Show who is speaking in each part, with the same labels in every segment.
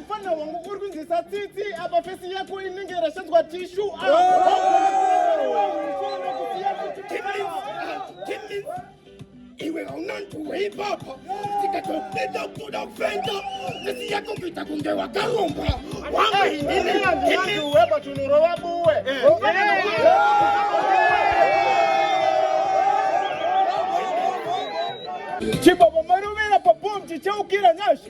Speaker 1: Mfana wangu uri kunzisa tsitsi apa fesi yako inenge yarashadzwa tishu. Iwe hauna ntuwe ipapa tikatopinda kuda kufenda fesi yako kuita kunge wakaromba wangu inini iwe patunurova buwe chibaba marovera pabomji chaukira nyasha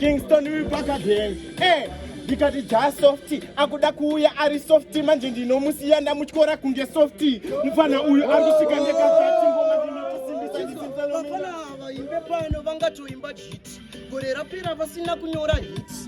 Speaker 1: Kingston uyu pakadheni eh, ndikati jaa softy akuda kuuya ari softy manje ndinomusiya ndamutyora kunge softy mufana uyu andisvika ndekaatingoma ndinokusimbisa ndisinzalomina vangatoimba jiti gore rapera vasina kunyora hits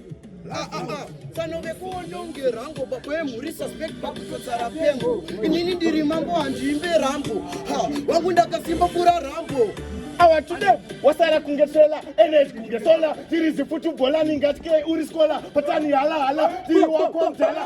Speaker 1: Ah, ah, ah. fanove kuononge rango baba yemhuri suspect pakutodzara pengo inini ndiri mambo handiimbe rambo wangu ndakasimba kura rambo awa tude wasara kunge sola energy kunge sola tiri zifutu bholani ngati ke uri skola patani hala hala tiri wako mdala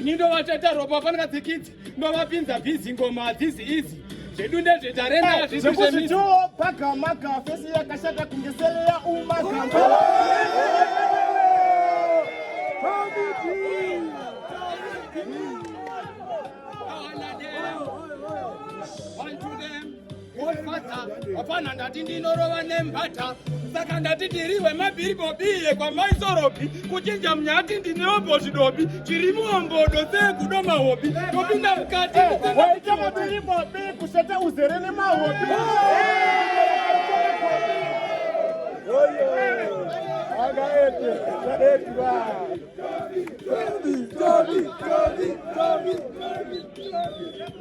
Speaker 1: ini ndovatata ropa vafanira dzikidzi ndovapinza bhizi ngoma hadzizi izi zvedu ndezvetarenda zvekuzvituwo pagamaka fesi yakashata kunge sele yaumagambo One to them. Godfather, hapana ndati ndinorova nembata saka ndati ndiri wemabhiribobiye kwamaisoropi kuchinja munyati ndineombo zvidobi chiri muombodo sekudo mahobi topinda mukati waita mabhiribobi kuseta uzere nemahobi Toby, Toby, Toby, Toby, Toby, Toby.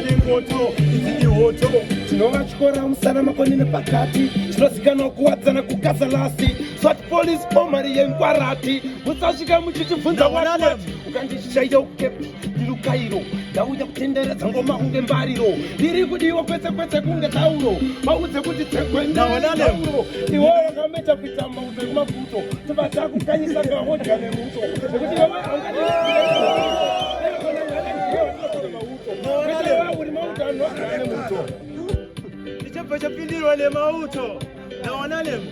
Speaker 1: Poto, izi ihoto tinovatyora musana makoni nepakati zvinozikanwa kuwadzana kugaza lasi sat police pomari yenkwarati musasvika muchitibvunza wati ukandishaida ukepi ndirukairo ndauya kutenderedza ngoma kunge mbariro ndiri kudiwa kwese kwese kunge tauro vaudze kuti tsegwendauro iwo wakameta kuita mauto ekumafuto tobata kukanyisa ngahodya nemuto nekuti ichobva chapindirwa nemauto nawanalemo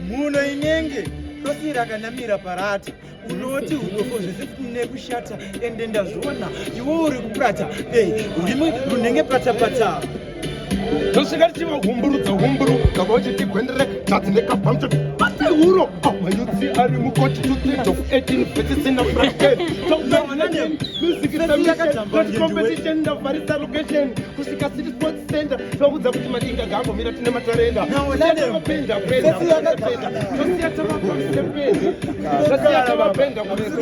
Speaker 1: muno inenge rosi rakanamira parati unoti udofo zvese kune kushata ende ndazviona iwo uri kupurata ei urimi runenge patapata tosvika tichiva humburu dzahumburu tava uchiti gwendere tadzi nekabhamcho pati huro mayutsi ari mukoti tuteto 18 vetisina brakemusikisamiakaticompetition ndavharisa location kusvika city sports center tavakudza kuti madinga gambomira tine matarenda apenda penda tosiya tavapenda kuresa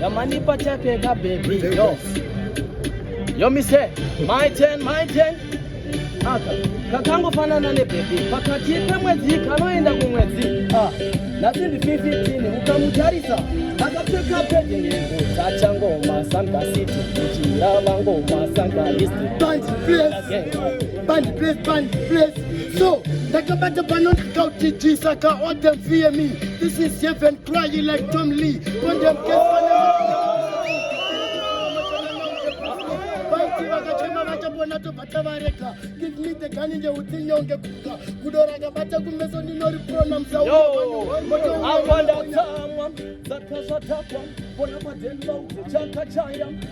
Speaker 1: Yamanipa chape ka baby yo. Yo mi say my turn my turn. Aka kakangofanana ne baby pakati pemwedzi kanoenda kumwedzi. Ah, nhasi ndi 15 ukamutarisa akapfeka pedi nhengo dzachangoma sangasiti kuchira vangoma sangaisti. Band place, band place, band place. So ndakabata pano ndikauti jisa ka all them fear me. This is heaven. Try you like Tom Lee. Condemn case for vakachema vachapona tobva tavarega give me the gun nje utinyonge kuka gudo rakabata kumeso ndinoriprona msaaaoaandatsamwa dzakazvatakwa pona padeni vaudzechakachaya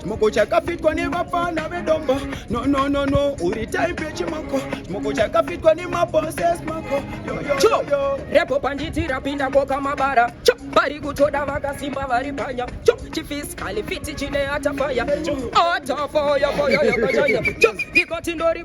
Speaker 1: chimoko chakafitwa nevapana vedombo no no no no uri type chimoko chimoko chakafitwa nemabosses mako cho repo panditi rapinda koka mabara cho vari kutoda vakasimba vari panya cho chifiskali fiti chine atafaya cho atafoyafoyayakachanya cho ndikoti ndori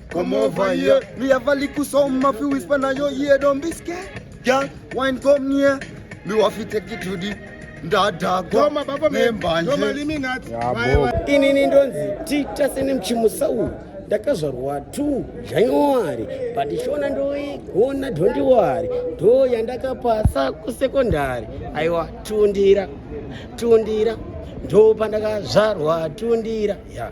Speaker 1: Come over here. Me have a little song, my few whisper now your ear, don't be scared. Girl, wine come near. Me want to take it to the ndadhakwa nembanje inini ndonzi tita sene mchimusa uyu ndakazvarwa tu january but shona ndoigona dhondiwari ndo yandakapasa kusekondari aiwa tundira tundira ndo pandakazvarwa tundira ya yeah.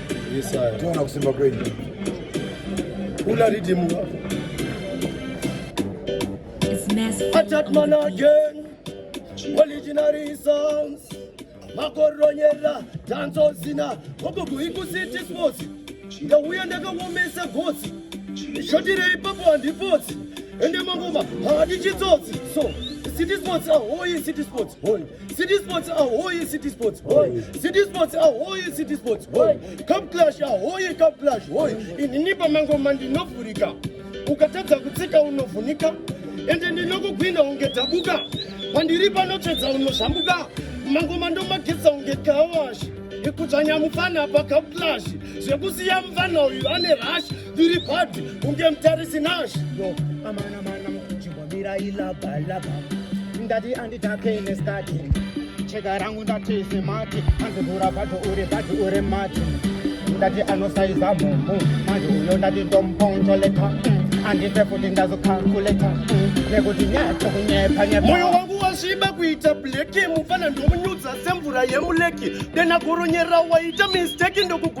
Speaker 1: Toona kusimba kwenyu. Kula ridimu. Attack man again. Originary songs. Makoronyera, danzo zina. Gogogo ikusiti sports. Ndauya ndakawomesa gotsi. Shotirei papo handipotsi. Ende mangoma haadi chitsotsi. So, city sports ahoyi city sports. Hoyi. City Sports ahoyi City Sports hoy City Sports ahoyi City Sports hoy Cup Clash ahoyi Cup Clash hoy inini pamangoma ndinovhurika ukatadza kutsika unovhunika ende ndinokugwina unge dhabuka pandiri panotsvedza unozvambuka mangoma ndomageza unge kawashi ikudzvanya mufana pa Cup Clash zvekusiya mufana uyu ane rashi Tiri bhadhi kunge mutarisi Nash. Yo, amana mana mukujibwa mira ilaba laba. Ndati anditake nestati. Chega rangu ndati semati. Anzivura bhadhi uri bhadhi uri mati. Ndati anosaiza mumbu. Manje uyo ndati ndomponjoleta. Andife futi ndazokakuleta. Nekuti nyatso kunyepa nyepa. Moyo wangu wasviba kuita bleki mufana ndomunyudza semvura yemuleki dena goronyera waita misteki ndokugu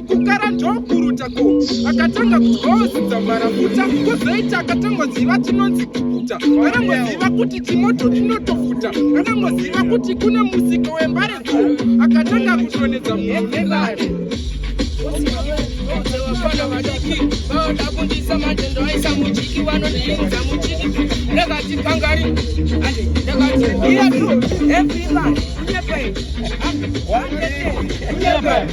Speaker 1: kukara ndokuruta ko akatanga kudyawo zidzambarafuta kozoita akatangoziva tinonzi kukuta anangoziva kuti timoto tinotofuta anangoziva kuti kune musika wembare ko akatanga kutonedza munhu nevare vana vadiki vaoda kundisa matendo aisa mujiki vanondiinza mujiki ndakati kangari ande ndakati iya tu everyone unyepe ande wanete unyepe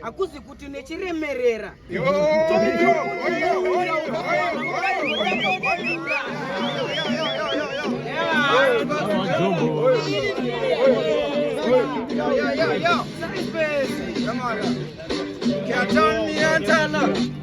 Speaker 1: hakuzi kuti nechiremerera Come on.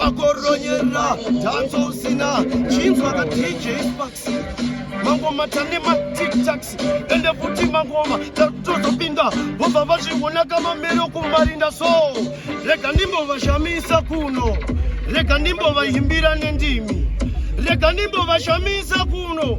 Speaker 1: vakoronyera dhanso usina chinzwa ka dj sparks mangoma tane matiktax ende futi mangoma tatozopinda vobva vazviona kamamero kumarinda so rega ndimbovashamisa kuno rega ndimbovahimbira nendimi rega ndimbovashamisa kuno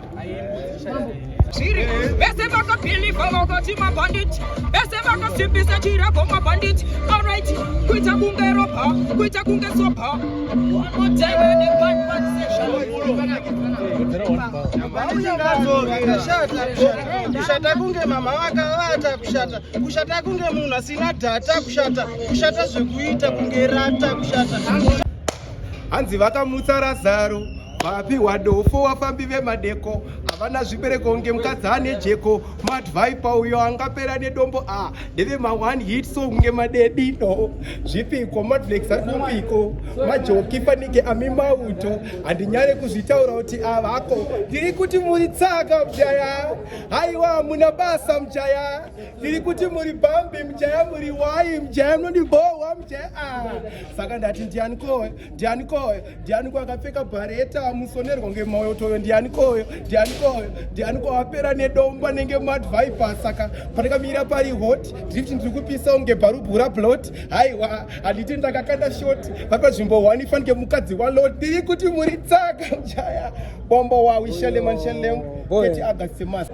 Speaker 1: Siri, bese baka pili baba koti ma bandit. Bese baka sipi sa chira go ma bandit. All right, kuita kunge ropa, kuita kunge sopa. One more time when the gun man session. kushata kunge mama vakavata kushata kushata kunge munhu asina dhata kushata kushata zvekuita kunge rata kushata hanzi vakamutsa razaro vapihwa dofo wafambi vemadeko havana zvibereko kunge mukadzi ane jeko madvipa uyo angapera nedombo a ndeve ma1 hit so kunge madedino zvipiko madflex arikumbiko majoki fanike ami mauto handinyare kuzvitaura kuti avako ndiri kuti muri tsaka mjaya haiwa hamuna basa mjaya ndiri kuti muri bambi mjaya muri wai mjaya mnondibohwa mjaya a saka ndati ndiani koyo ndiani koyo ndiani ko akapfeka bhareta amusonerwa ngemauyo toyo ndiani koyo ndiani koyo ndiani ko apera nedomba nenge mad viper saka pandakamira pari hot ndiri kuti ndiri kupisa unge bharubhu rablot haiwa handiti ndakakanda shoti vapanzvimbo one fanike mukadzi walot ndiri kuti muri tsaka mjaya bombo wawishalemanshalem keti agasemasa